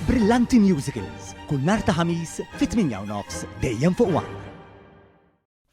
Brillanti Musicals, kull nhar ta' Ħamis fit-8:30, dejjem fuq one.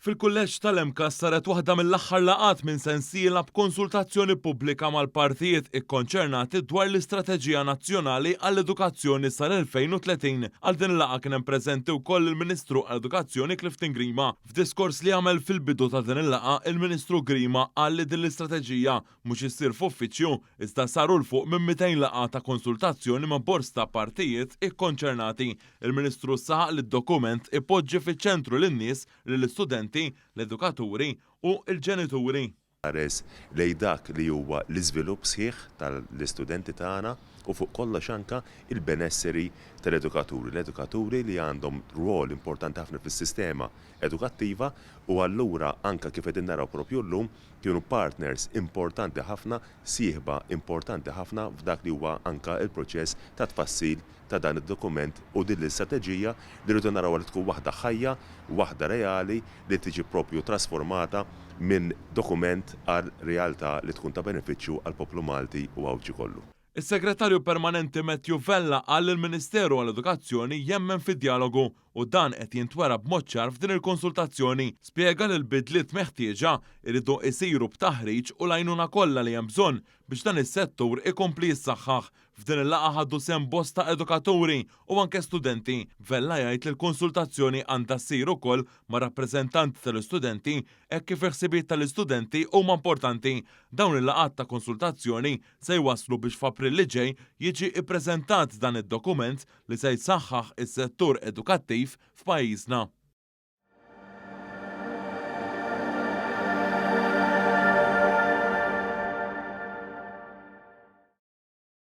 Fil-Kulleġġ tal-MCASS saret waħda mill-aħħar laqgħat minn sensiela b'konsultazzjoni pubblika mal-partijiet ikkonċernati dwar l-Istrateġija Nazzjonali għall-Edukazzjoni sal-2030. Għal din il-laqgħa kien hemm preżenti wkoll il-Ministru għall-Edukazzjoni Clifton Grima. F'diskors li għamel fil-bidu ta' din il-laqgħa, il-Ministru Grima qal li din l-istrateġija, mhux issir f'uffiċċju, iżda saru 'l fuq minn 200 laqgħa ta' konsultazzjoni ma' bords ta' partijiet ikkonċernati. Il-Ministru saħaq li d-dokument ipoġġi fiċ-ċentru lin-nies, lill-istudenti, l-edukaturi u l-ġenituri. Iħares lejn dak li huwa l-iżvilupp sħiħ tal-istudenti tagħna u fuq kollox anke l-benesseri tal-edukaturi. L-edukaturi li għandhom rwol importanti ħafna fis-sistema edukattiva u allura anke kif qegħdin naraw proprju llum, kienu partners importanti ħafna, sieħba importanti ħafna f'dak li huwa anke l-proċess ta' tfassil ta' dan id-dokument u din l-istrateġija li rridu narawha li tkun waħda ħajja, waħda reali li tiġi proprju trasformata minn dokument għal realtà li tkun ta' benefiċċju għall-poplu Malti u Għawdxi kollu. Is-Segretarju Permanenti Matthew Vella qal li l-Ministeru għall-Edukazzjoni jemmen fid-djalogu u dan qed jintwera b'mod ċar f'din il-konsultazzjoni. Spjega li l-bidliet meħtieġa jridu isiru b'taħriġ u l-għajnuna kollha li hemm bżonn biex dan is-settur ikompli jissaħħaħ. F'din il-laqgħa ħadu sehem bosta edukaturi u anke studenti. Vella jgħid li l-konsultazzjoni għandha ssir ukoll ma' rappreżentanti tal-istudenti hekk kif il-ħsibiet tal-istudenti huma importanti. Dawn il-laqgħat ta' konsultazzjoni se jwasslu biex f'April li ġej jiġi ppreżentat dan id-dokument li se jsaħħaħ is-settur edukattiv f'pajjiżna.